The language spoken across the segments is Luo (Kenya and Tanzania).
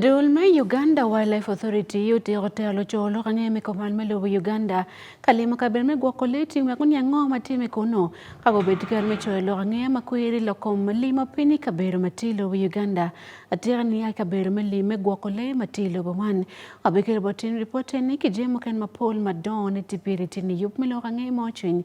Duol ma Uganda Wildlife Authority otieko telo colo ka ng'e meko man melubo Uganda ka limo kabedo me gwoko lee tim wek ni ang'o ma time kono ka gobed ker me coyo lok ang'e ma kweri lokom limo piny kabedo ma ti lubo Uganda atika ni ai kabedo me lim me gwoko lee ma ti lubo man obe kere bo tim ripot ni kijemo ken ma pol ma don ni tipiri tini yup me lok ang'e ma ocwiny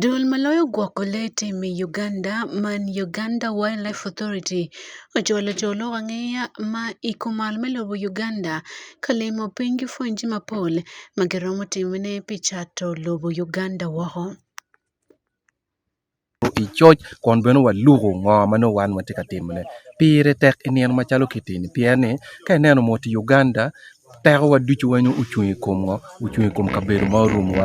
Duol maloyo gwoko le e tim ei Uganda man Uganda Wildlife Authority ochwalo joluo wang'eya ma iko mal miluwo Uganda kalimo piny gi fwenje mapol magiromo timne picha to luwo Uganda wahoo. i coc kun bene waluko ngo ma nongo wan watye ka timone pire tek i nino macalo kiteni pien ni ka ineno mot i Uganda tekowa ducu weng ocung i kom ngo ocung i kom kabedo ma orumowa.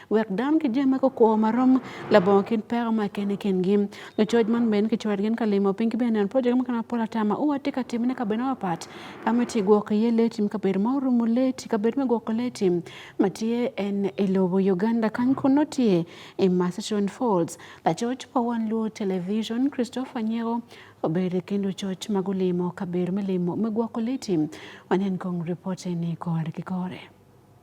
wek dano ki jami ma kukwo ma rom labongo kin peko ma kene kingi lucoc man bene kicwero gin ka limo piny ki bene neno project mukene mapol ata ma uwa tye ka timone kabedo mapat ka ma tye gwoko iye lee tim kabedo ma orumo lee ti kabedo me gwoko lee tim ma tye en i lobo Uganda kany kun nongo tye i Marston Falls lacoc pa wan luo television Christopher Nyeko obedo i kin lucoc ma gulimo kabedo me limo me gwoko lee tim wanen kong ripot eni kore ki kore.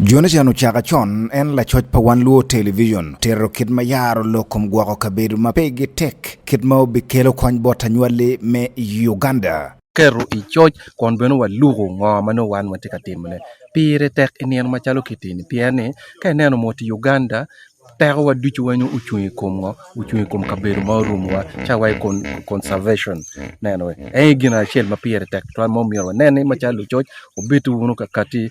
Jonathan Ochaka chon en lacoc pa wan luo television tero kit ma yaro lok kom gwoko kabedo ma pegi tek kit ma obikelo kony bot anywali me Uganda. keto i coc kun bene waluko ngo ma nongo wan watye ka timone pire tek i nino macalo kiteni pien ni ka ineno mot i Uganda tekowa ducu weng ocung i kom ngo ocung i kom kabedo ma orumowa ca wa i kon- conservation neno en aye gin acel ma pire tek tutwal ma omyero waneni macalo lucoc obiti wunu kakati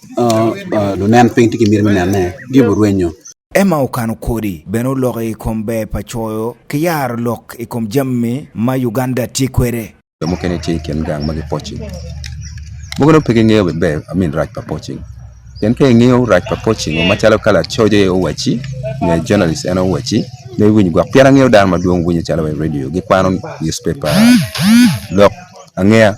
lunen piny tye ki myero me nenne giyubo rwenyo Ema okano kodi bene oloko i kom ber pa coyo ki yaro lok i kom jammi ma Uganda tye kwede. Jo mukene tye i kin gang ma gipocing. Mukene pe gingeyo be ber amin rac pa pocing. Pien ka ingeyo rac pa pocing macalo ka lacoc aye owaci, nyo journalist en owaci, me winyo gwok. Pien angeyo dano madwong winyo calo i radio, gikwano newspaper, lok angeya.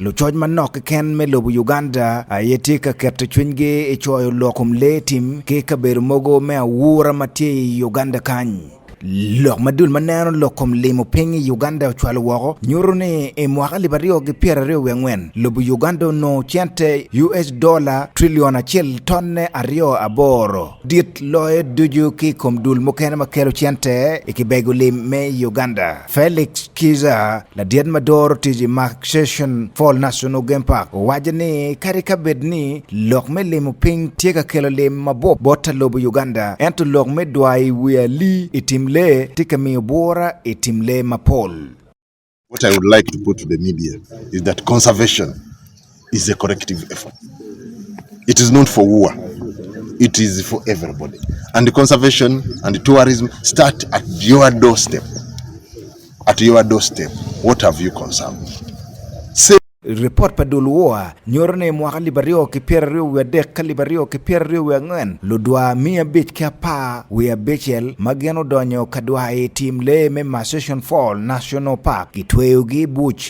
Lucoc manok keken me lobo Uganda aye tye ka keto cwinygi i coyo lok kom lee tim ki kabedo mogo me awura ma tye i Uganda kany. Lok madul ma neno lok kom limo piny i Uganda ocwalo woko nyuto ni i mwaka alip aryo gi pyera aryo wi angwen lobo Uganda onongo cente US dola trilion acel tonne aryo aboro dit loyo ducu ki kom dul mukene ma kelo cente i kibego lim me Uganda. Felix Kiza ladied madoro tiji Mark Session Fall National Game Park owacho ni kare ka bed ni lok me limo piny tye ka kelo lim mabop bot lobo Uganda ento lok me dwayi wi ali i tim lee tye ka miyo bwora i tim lee mapol. What I would like to put to the media is that conservation is a corrective effort. It is not for war. It is for everybody. And the conservation and the tourism start at your doorstep. At your doorstep, what have you conserved? report pa dul woa nyoro ne mwaka liba ryo ki pyera ryo wiye adek ka liba ryo ki pyera ryo wiye angwen ludwa miya abic ki apar wiye abicel ma gin odonyo ka dwa i tim lee me Marsupial Fall National Park gitweyogi i buc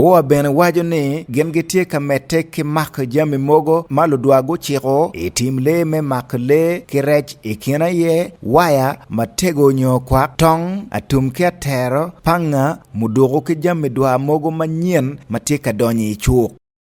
Oa bene waco ni gin gitye ka medde ki mako jami mogo ma ludwar guciko i tim lee me mako lee ki rec i kin aye waya matego nyo kwak tong atum ki atero panga muduku ki jami dwar mogo manyen ma tye ka donyo i cuk.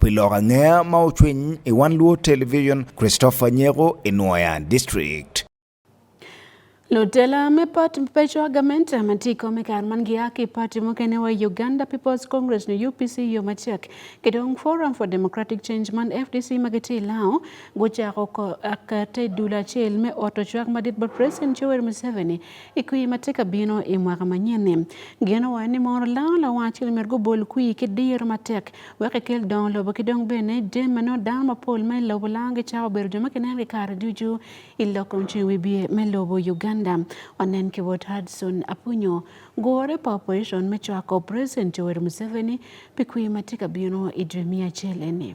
Pilok ang'eya ma ochwiny e One Luo Television, Christopher Nyego, Inwoya District. Lutela me pat pecho agament matiko me kar man giaki party mokene wa Uganda People's Congress no UPC yo machek kitong Forum for Democratic Change man FDC magiti lao guchako ko akate dula chel me oto chwak madit ba President Yoweri Museveni I kwee ma tye ka bino i mwaka manyen-ni, geno wa ni mono laro lawacci omyero gubol kwee ki diro matek wek ekel dongo lobo ki dong bene jami ma nongo dano mapol ma i lobo laro gicako bedo jo ma kineno ki kare ducu i lok kom ceng wibye me lobo Uganda. Wanen ki bot Hudson Apunyo, gure pa opposition me cwako President Yoweri Museveni pi kwee ma tye ka bino i dwe miya acel eni.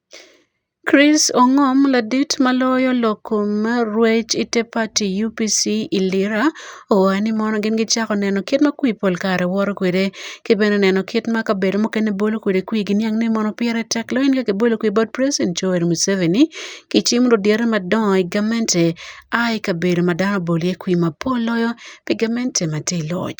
Chris Ongom ladit maloyo loko rwech ite party UPC i Lira owae ni mono gin gichako neno kit ma kwi pol kare woro kwede ki bene neno kit ma kabedo mukene bolo kwede kwi gi niang ni mono pire tek lain ka kibolo kwi bot president Joel Museveni ki cim ludyere madongo i gamente a i kabedo ma dano bolo iye kwi mapol loyo pi gamente ma tye i loc.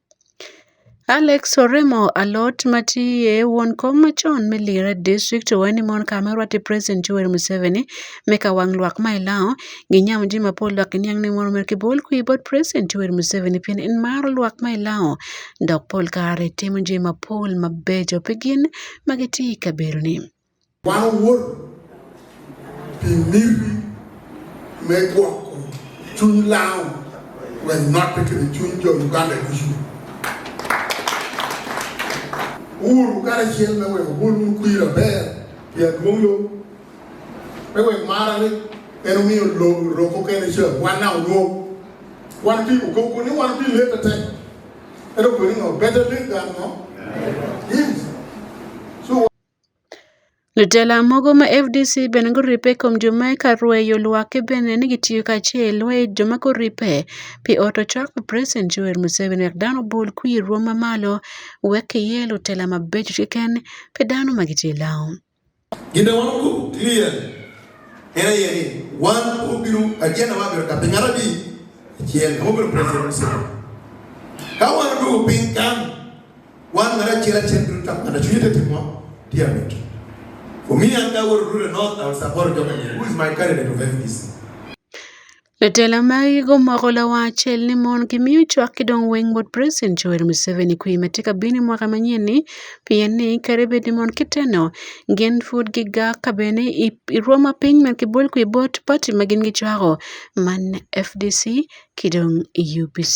Alex oremo alot matiye wuon kom machon Milly Red District oweni mon kama orwate President Yoweri Museveni meka wang lwak ma ilao gi nyam ji mapol lwak iniang ni moro mer kibol kwi but President Yoweri Museveni pien in mar lwak ma ilao dok pol kare timo ji mapol mabejo pigin magiti kaberoni. Wan wuor pi miri me gwoko chuny law we not kiri chuny jo Uganda dusu. Uru kare chiel me we wuon un kuira ber ya duongo me we mara ni en omiyo lo roko kene chiel wan na ulo wan pi ukoko ni wan pi lete te. Ero kwenye no better late than no. Yes. Jotelo moko ma fdc bende koripe kuom joma eka rweyo lwak kibene ni gitiyo kaachiel rweye joma koripe pi ot ochwako president Yoweri Museveni wek dano obul kwi rwom mamalo wek kiye lutela mabeco kiken pi dano ma gitye law. Ginde wan ku clear en aye ni wan obiro ajenda wa biro tapi ngara bi chiel obiro president Museveni ka wan dugu piny kan Wan mar achiel achiel biro tamo ng'ato chunye tetimo dear Mickey. For me and I will rule north, I will support Jomo Kenyatta. Who is my candidate of FDC? Jotelo mag gigo moko la wacho ni mon gi miyo chwak kidong weng bot President Yoweri Museveni kwi matika bini mwaka manyien ni pien ni kare bed ni mon kiteno gin fud gi ga kabene irwoma piny man kibol kwi bot party ma gin gi chwago man FDC kidong UPC.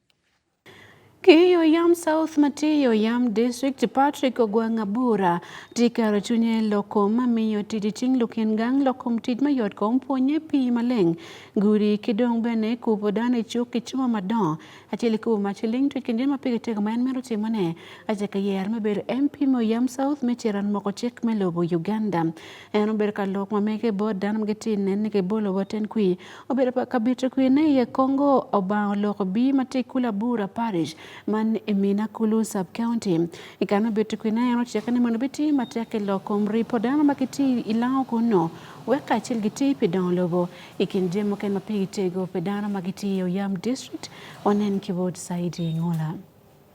Kiyo yam South Matiyo yam District Patrick Ogwang Abura tikaro chunye loko mamiyo tij ting' lukin gang lokom tij mayot kom puonye pi maleng guri kidong bene kubo dane chuk kichuma madon achiel kubo machiling to kinde ma pigi tego ma en mero timone achaka yer mebedo MP mo yam South mecheran moko chik melobo Uganda En obedo ka lok ma mege bot dano ma gitye nen ni kibolo wa ten kwi. Obedo pa kabito kwi ne iye Kongo obang oloko bi ma tye kula bura parish man i Mina Kulu sub county. I kane obito kwi ne en ocike ni mondo biti matek i lok kom ripo dano ma gitye i lango kunno wek kacel giti pi dongo lobo i kin jami mukene ma pigi tego pi dano ma gitye i Oyam district onen ki wod Saidi Ngola.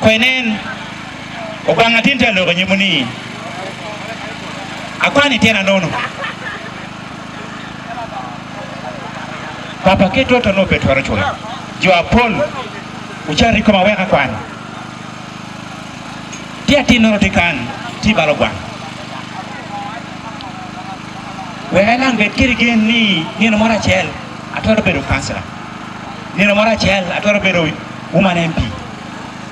Kwenen, okwang atin talo ko nyumuni. Akwani tena nono. Papa ke toto no petwaro chwe. Jo apol uchari koma weka kwani. Ti atin nono ti kan ti balo kwani. Weka lang bet kiri gen ni ngeno mora chel. Atwaro bedo kansela. Neno moro achiel atwero bedo woman MP.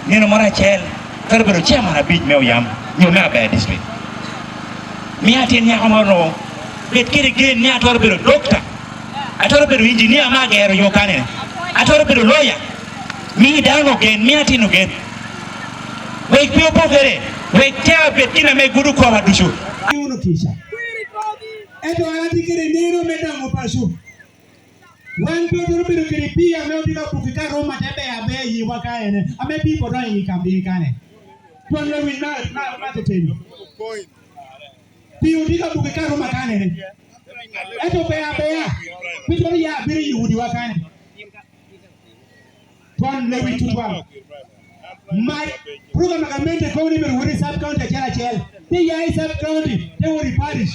Neno moro achiel atwero bedo chairman abich me oyam nyo me abaya district. Mi atin nyako moro bet kiri gen ni atwero bedo doctor. Atwero bedo engineer ma gero yo kanene. Atwero bedo lawyer. Mi dano gen mi atino gen. Wek pio pokere. Wek tea bet kina me gudu kwa wadushu. Uno kisha. Eto anati kiri nero medamo pashu. Wan to dwaro bedo kiri pi ame odhi ka kuki ka Roma te be abe yi wa ka ene. Ame pi bodo yi ka bi ka ne. Tuan le win na na na te teni. Pi odhi ka kuki ka Roma ka ne. Eto be abe ya. Pi bodo ya abe yi udi wa ka ne. Tuan le win tutwa. Mai program ka mente kauni ber wuri sub county chela chela. Te ya sub county te wuri parish.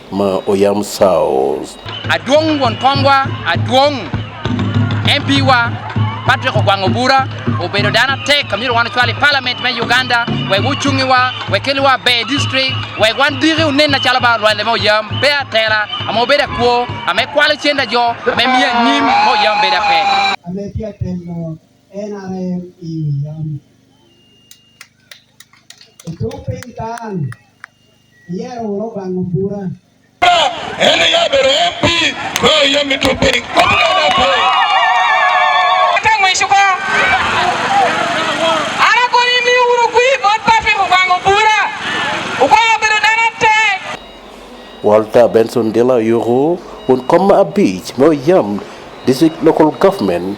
ma oyam saos. Aduong' wuon kombwa, aduong' MP wa Patrick Ogwang' Obura obedo dano atek amiro wan ocwal i parliament me Uganda wek wucungi wa wek keli wa be district wek wan diki unen acalo ba lwande me oyam be atela ama obedo akwo ama ekwalo cenda jo ama emiyo anyim me oyam bedo ape. Ame tye atelo NRM i oyam. Ito piny kan Yaro oro bango bura. Ene ya bero MP ko yo mitupi. Tango ishuko. Ara ko ni mi uru kui bot papi ko bango bura. Uko bero dana te. Walter Benson Dela Yuru un koma abich mo yam district local government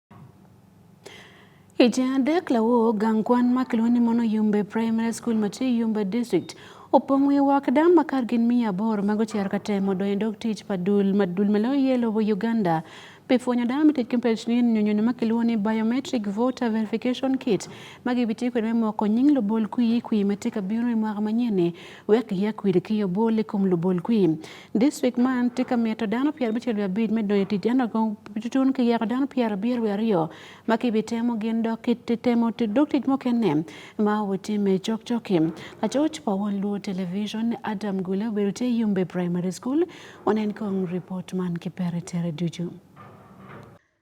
Higni adek lawo gang kwan ma kilwa ni Mono Yumbe Primary School Mati Yumbe District opong' wi wakda ma kar gin miya aboro mago chiar ka temo donjo dog tich padul madul malo yelo wo Uganda pifwenyo da mitit kimpech ni nyonyono ma kilwa ni biometric voter verification kit ma gibiti kwede me moko nying lubol kwi kwi mati ka biro i mwaka manyene wek ya kwiri kiyo bol ikum lubol kwi District man tye ka mito dano pyera abicel wiye abir me donyo i tic ento kong tutun ki yako dano pyera abir wiye aryo ma kibitemo gin dok kitemo dok tic mukene ma wutimme cokcok-ki. Lacoc pa Won Luo Television Adam Gule obedo tye i Yumbe Primary School. Wanen kong ripot man ki Perry Tere Ducu.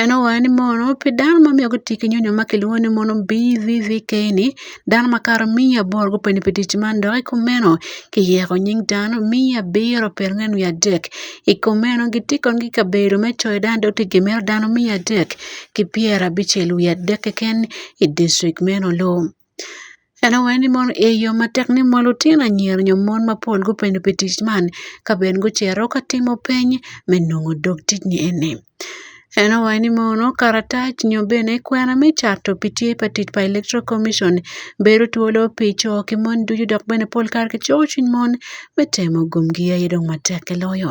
En owayo ni mono pi dano ma miyo gitye ki nyonyo ma kilwongo ni mono BVVK ni dano makato miya aboro gupeni pi tic man dok i kumeno kiyeko nying dano miya abiro pirangwen wiye adek i kumeno gitye kono ki kabedo me coyo dano dok tye gimito dano miya adek ki pyerabicel wiye adek keken i dicrik meno. Ene ŋo ni mono eyo matek ni mono lutino anyira nyo mon mapol gupenyo pi tic man ka ben gucito ka timo peny me nongo dog tic ni eni. Ene ŋo ni mono karatac nyo bene kwena me cato pi tye pa tic pa electoral commition bedo twolo pi co ki mon ducu dok bene pol kare kicoyo cwiny mon me temo gomgi aye dong matek ki loyo.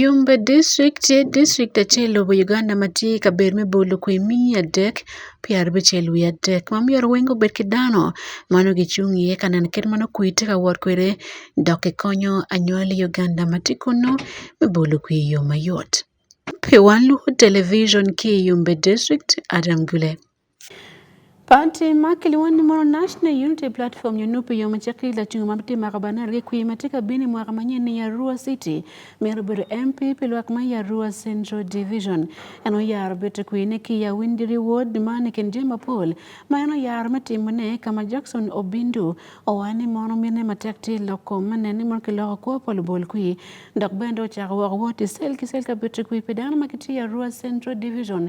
Yumbe district tye district acel lobo Uganda ma tye i kabedo me bolo kwee me adek pyera abicel wiye adek ma myero weng obed ki dano ma nongo gicung iye ka neno kit ma nongo kwee tye ka wot kwede dok kikonyo anywali Uganda ma tye kunu me bolo kwee i yo mayot pi wan lwongo television ki i Yumbe district Adam Gule. Pati ma kilwon ni mono National Unity Platform nyo nupi yo macake ila chungo ma biti maka banar gi kwi ma tika bini mwaka ma nyen ni Yarua City mero bedo MP pi lwak ma Yarua Central Division. En oyaro biti kwi ne ki ya windiri ward ma ni kin jema pol ma en oyaro me timo ne kama Jackson Obindu owani mono mine matek ti loko ma nen ni mono kiloko kwo pol bol kwi dok bende ochako woko wot i sel ki sel ka biti kwi pi dano ma kiti Yarua Central Division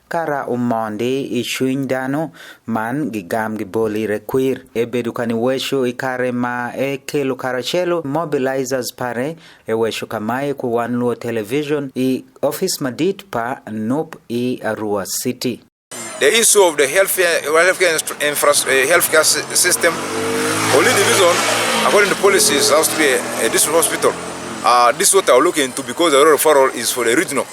Kara umondi i cwiny dano man gigam gibol ire kwir. Ebedo ka niweco i kare ma ekelo karacelo mobilizers pare eweco ka mae ku wan luo television i office madit pa nup i Arua City. The issue of the healthcare, healthcare, infra, eh, healthcare system, only division, according to policies, has to be a, a district hospital. Uh, this is what I'll look into because the referral is for the regional.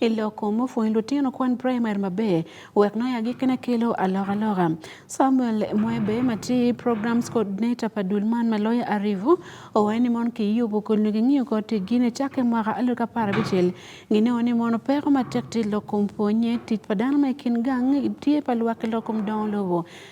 i lok kom opwony lutino kwan praimari maber wek nongo agikkene kelo alokaloka. Samuel Mwebe ma tye Programs Coordinator pa dul man ma loya Arivu owaco ni mon ki yubo kodi nyo gingiyo kor tiggi ni cakke mwaka alud ka apar abicel ginongo ni mono peko matek tye i lok kom pwonye tic pa dano ma i kin gang tye pa lwak ki lok kom dongo lobo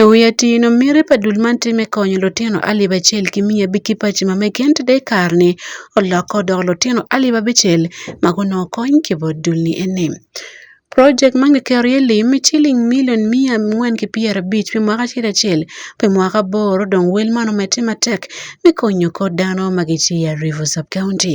E wiye tino miri pa dul man tye me konyo litino alip acel ki miya big ki paci ma mege ento dong i kare-ni olokke odoko litino alip abicel ma gunongo kony ki bot dul ni eni project man kiketo iye lim me ciling milion miya angwen ki pyera abic pi mwaka acel acel pi mwaka aboro dong wel man omedde matek me konyo kor dano ma gitye i Aripo sub county.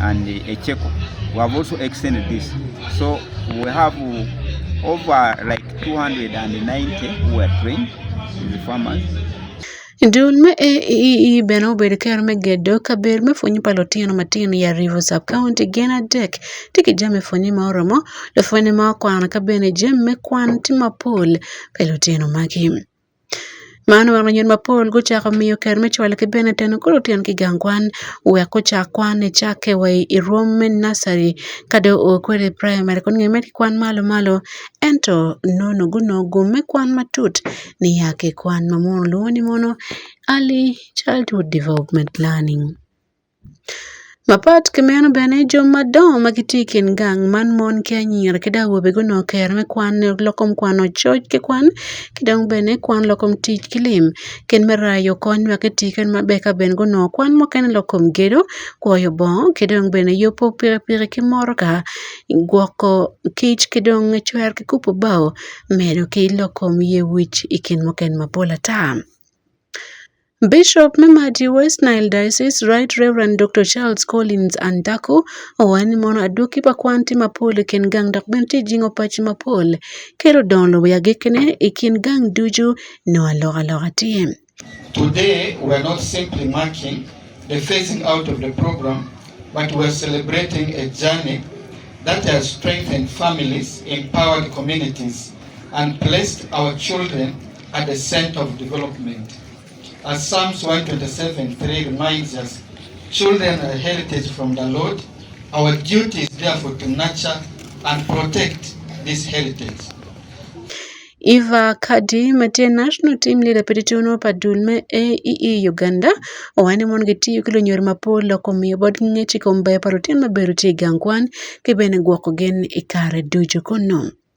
and a Cheko. We have also extended this. So we have over like 290 who were trained in the farmers. Dul me AEE bene obedo kero me gedo kabedo me pwonyo pa lutino matino i Arivo sub county gin adek tye ki jami pwonye ma oromo lupwonye ma okwano ka bene jami me kwan tye mapol pa lutino magi. Man wan yadi mapol gucako miyo ker me cwalo ki bene teno kulu tyen ki gang kwan wek gucak kwan icakke wa i rwom me naci ka dong oo kwede i primary kun nge mere kwan malo malo ento nono gunongo gum me kwan matut niya ki kwan ma munu lwongo ni mono early childhood development planning. Mapat ki meno bene, jo madongo ma gitye i kin gang man mon ki anyira ki dong awobe gunongo kero me kwan lok kom kwano coc ki kwan ki dong bene kwan lok kom tic ki lim kit me rayo kony wek guti kene maber ka bene gunongo kwan mukene lok kom gedo, kwoyo bongo ki dong bene yubu pikipiki ki motoka, gwoko kic ki dong cwero ki kubo bao medo ki lok kom yec wic i kin mukene mapol ata. Bishop me Madi West Nile Diocese Right Reverend Dr. Charles Collins Andaku owacho ni mono aduki pa kwan tye mapol i kin gang dok bene tye jingo paci mapol kelo dongo lobo ya gikene i kin gang ducu nongo alokaloka tye. Today we are not simply marking the phasing out of the program but we are celebrating a journey that has strengthened families, empowered communities and placed our children at the center of development. As Psalms 127 3 reminds us, children are heritage from the Lord. Our duty is therefore to nurture and protect this heritage. Eva Kadi matye national team leader pedi tuno pa dul me AEE e Uganda owane mon gitiyo ki lunyor mapol loko miyo bot ngec i kom ber pa lutino ma bedo tye i gang kwan ki bene gwoko gen i kare ducu kunu.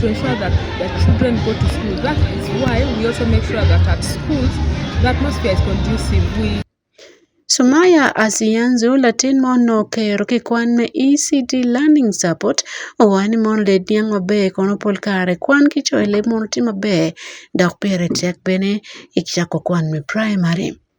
to ensure that the children go to school. That is why we also make sure that at schools the atmosphere is conducive. We Sumaya Asiyanzu latin ma onok e yor kikwan me ECD Learning Support owacho ni mondo led niang maber kono pol kare kwan ki coyo leb mondo oti maber dok pire tek bene ichako kwan me primary.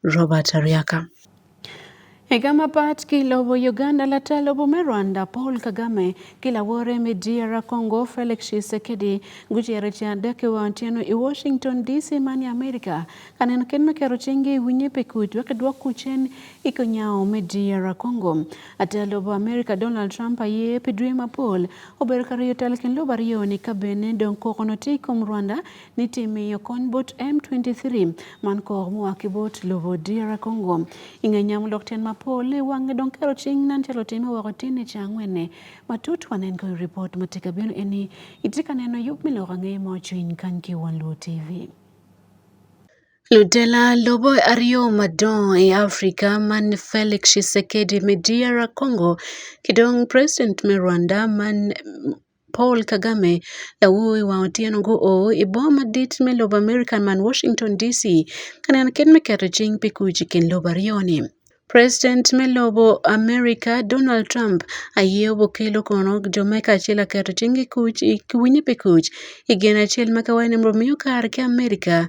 Robert Ariaka. Higa ma pat kilobo Uganda latelo bume Rwanda Paul Kagame kilawore me DR Congo Felix Tshisekedi gucere ci adek wa otieno i Washington DC man i Amerika kanen ken me kero cenge i winye pe kuc wek dwok kucen i konyawo me DR Congo. Atelo bu Amerika Donald Trump aye pi dwe ma Paul obedo ka riyo tel ken lobo aryo ni kabene dong kokono ti kom Rwanda nitimiyo kony bot M23 man kor mua kibot lobo DR Congo. Inge nyam lok ten mapol e wange dong kero ching nan chalo time wako tine changwene. Matut wanen ko report matika bino eni itika neno yup miloko nge mo chuin kan ki wan luo TV. Ludela lobo ariyo madong e Afrika man Felix Tshisekedi me DR Congo kidong President me Rwanda man Paul Kagame lawuowi wang' otieno go o i boma madit me lobo Amerika man Washington DC ka neno kit me keto cing pi kuc i kin lobo aryo-ni. President me lobo Amerika Donald Trump aye obokelo kono jo me kacel aketo cing i kuc ki winyo pi kuc i gin acel ma ka waneno bimiyo kare ki Amerika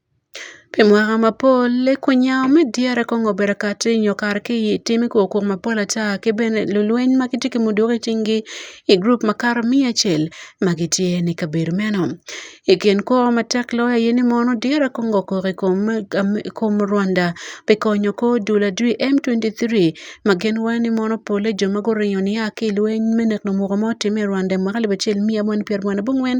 Pi mwaka mapol ekunya me dyere kong obedo kati nyo kare ki i timi kor kwo mapol ata ki bene lulweny ma gitye ki muduki i cingi i gurup makato miya acel ma gitye i kabedo meno i kin kwo matek loyo aye ni mono dyere kong okok i kom Rwanda pi konyo kor dul adwi M twenty three ma gin waco ni mono pole jo ma guringo nia ki i lweny me neko muko ma otimme i Rwanda i mwaka alip acel miya abongwen pyera abongwen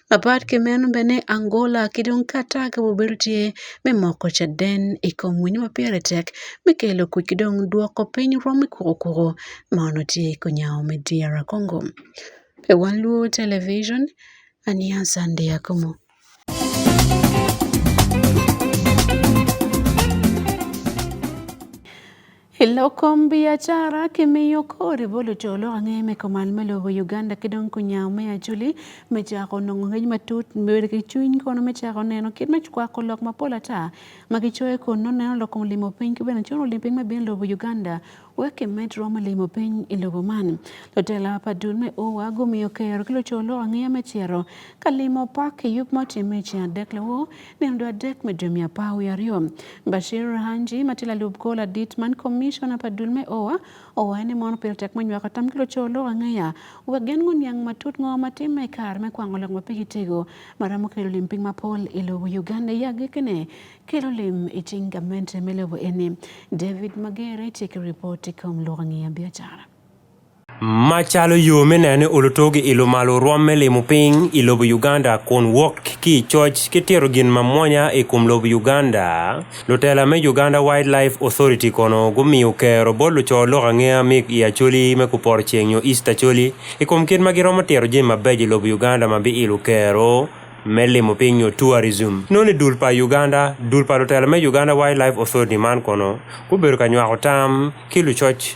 Apart ki meno bene Angola ki dong Qatar ka obedo tye me moko caden i kom winyo ma pire tek me kelo kuc ki dong dwoko piny rwom me kukukuru ma onongo tye i kunyango me DR Kongo. Pe wan lwo television aniya Sunday Akumu. I lok kom biacara kimiyo kori bolo colo ange me komal me lobo Uganda ki dong kunyawo me aculi me cako nongo ngec matut bedo ki cwiny kono me cako neno kit me kwako lok mapol ata ma gicoyo kun nongo neno lok kom limo piny ki bene cono lim piny me bino lobo Uganda wek kimed romo limo piny i lobo man. Lutela pa dul me owa gumiyo kero ki lucolo ange me cito ka limo pak i yub ma otimme i ceng adek lawo Nendo adek me dwe mia apar wi ariyo. Bashir Rahanji ma tila lub kola dit man commissioner pa dul me oa owaye ni mono pil tek manywaka tam kilo colo ang'eya wek gen ngo niang matut ngo matim me kar me kwango lok ma pigi tego maramo kelo lim ping mapol i lobo Uganda ya gikene kelo lim i cing gamente me lobo eni David Magere ciki report i kom lok ang'eya biacara. Macalo yo me nene olutogi i lumalo rwamme limo piny i lobo Uganda kun wok ki i coc ki tito gin mamwonya i kom lobo Uganda. Lutela me Uganda Wildlife Authority kono gumiyo kero bot luco lok angeya mig i Acholi me Kuporo Ceng nyo East Acholi i kom kit ma giromo tito jami mabeco i lobo Uganda ma biilo kero me limo piny nyo tourism. Noni dul pa Uganda, dul pa lutela me Uganda Wildlife Authority man kono gubedo ka nywako tam ki lucoc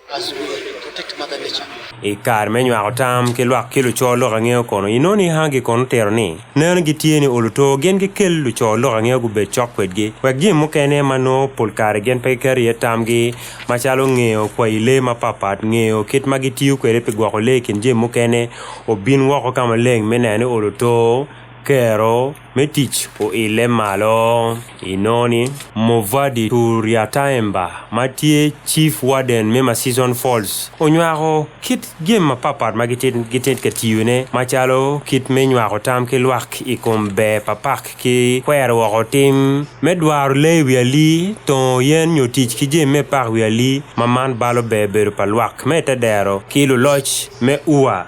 I kar me nywako tam ki lwak ki luco lok angeo kono inoni hangi kono tero ni neno gitye ni oluto gin gikel luco lok angeo gubed cok kwedgi wek jim mukene ma nongo pol kare gin pe giketo iye tamgi macalo ngeyo kwayi lee mapatpat ngeyo kit ma gitiyo kwede pi gwoko lee i kin jim mukene obin woko ka maleng me neno ni oluto kero Metich oile malo inoni Movadi Turiataemba ma tye Chief Warden me Masison Falls onywako kit jami mapatpat ma gitye ka tiyone macalo kit me nywako tam ki lwak i kom ber pa pak ki kwero woko tim me dwaro lee wi ali, tongo yen nyo tic ki jami me pak wi ali ma man balo ber bedo pa lwak me te dero ki luloc me ua.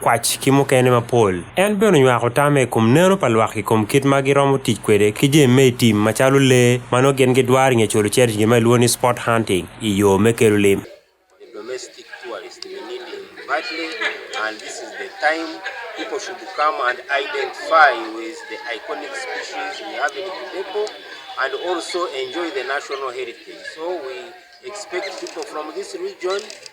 kwac ki mukene mapol. En bene onywako tame i kom neno pa lwak i kom kit ma giromo tic kwede ki jami me i tim macalo lee ma nongo gin gidwaro i nge colo cito i gin ma ilwongo ni sport hunting i yo me kelo lim. People should come and identify with the iconic species we have in Kidepo and also enjoy the national heritage. So we expect people from this region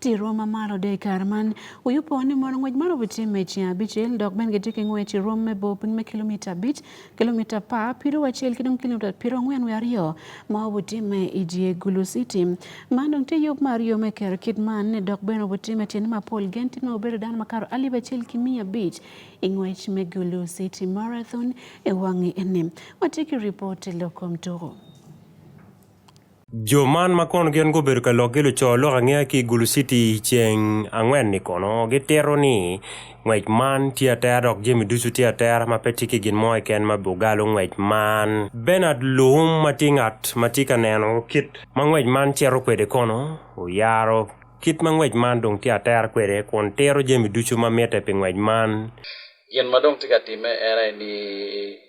Tirwa ma malo de kar man uyu po ni mono ng'wec maro biti meci abichel dok ben giti ki ng'wec i rom me bo piny me kilomita abic kilomita pa piro wacel ki dong kilomita piro angwen wi aryo ma obutimme i dye gulu city man dong tye yub ma aryo me kero kit man ne dok ben obutimme tyene mapol gen tye ma obedo dano makato alip acel ki miya abic i ng'wec me gulu city marathon i wangi eni watye ki ripot i lok kom tuko Jo man ma kono gin gubedo ka lok gilo co lok angeya ki Gulu City ceng angwen-ni kono gitito ni ngwec man tye atera dok jami ducu tye atera ma pe tye ki gin mo keken ma bugalo ngwec man. Bernard Luhum ma tye ngat ma tye ka neno kit ma ngwec man cito kwede kono oyaro kit ma ngwec man dong tye atera kwede kun tito jami ducu ma mitte pi ngwec man. Gin ma dong tye ka timme en aye ni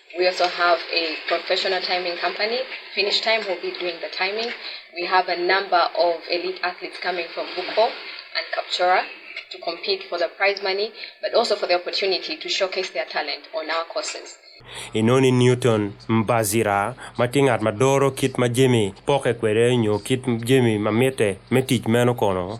We also have a professional timing company. Finish Time will be doing the timing. We have a number of elite athletes coming from Buko and Kapchora to compete for the prize money, but also for the opportunity to showcase their talent on our courses. inoni newton mbazira ma tye ngat ma doro kit ma jemi poke kwede nyo kit jemi ma mitte me tic meno kono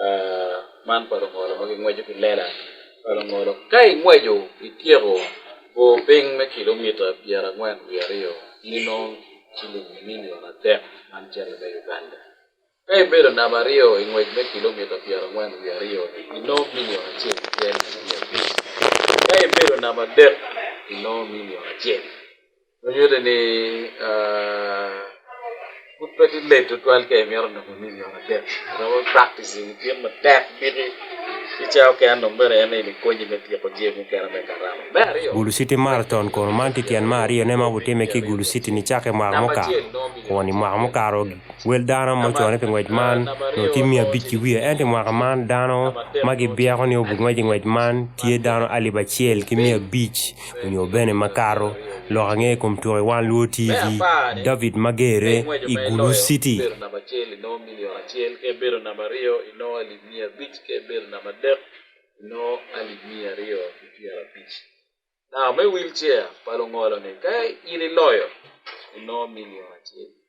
Uh, man pa lungolo ma gingweco ki lela pa lungolo ka ingweco ityeko bor piny me kilomita pyera angwen wi aryo nino ciling milion adek man cene me uganda ka ibedo namba aryo ingwec me kilomita pyera angwen wi aryo nino milion acel pyera ka ibedo namba adek nino milion acel Onyuole ni put pati late tutwal ke miyaro na kuni ni ona tek. Rawa practice ni tiyo ma tek biri. Icha oke ano mbere ene ni konyi me tiyo kujie mu kera me karama. Me ariyo. Gulu City Marathon kono man ti tyen ma ariyo ne ma butime ki Gulu City ni cake mwaka muka. Kono i mwaka mukaro wel dano ma ocone pi ngwec man no ti miya abic ki wiye enti mwaka man dano ma gibyeko ni obi ngwec i ngwec man tye dano alip acel ki miya abic onyo bene makato lok ange i kom tuko i wang luo TV David Magere i Gulu City. Now, me wheelchair, palo ngolo ni, kaya iniloyo, ino milion achiel.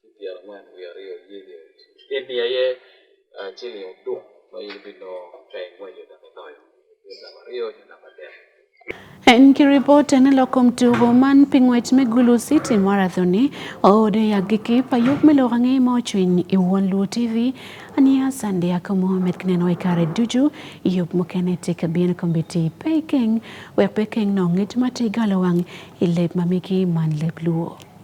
Kidhi ang'wen wi ariyo yiedhi ot. Kidhi aye achiel yo duk ma in bino kae ng'wenyo da minoyo. Kidhi ariyo yo namba dek. Enkiripota ni loko mtugo man pi ng'wec me Gulu City Marathon-ni oode yak gi kip ayub me loko ang'e ma ocwiny i won Luo TV aniya Sande Yako Mohamed kineno i kare ducu yub mukene tye ka bino kombiti pe ikeng wek pe ikeng nong ngec ma tye galo wang i leb ma migi man leb Luo.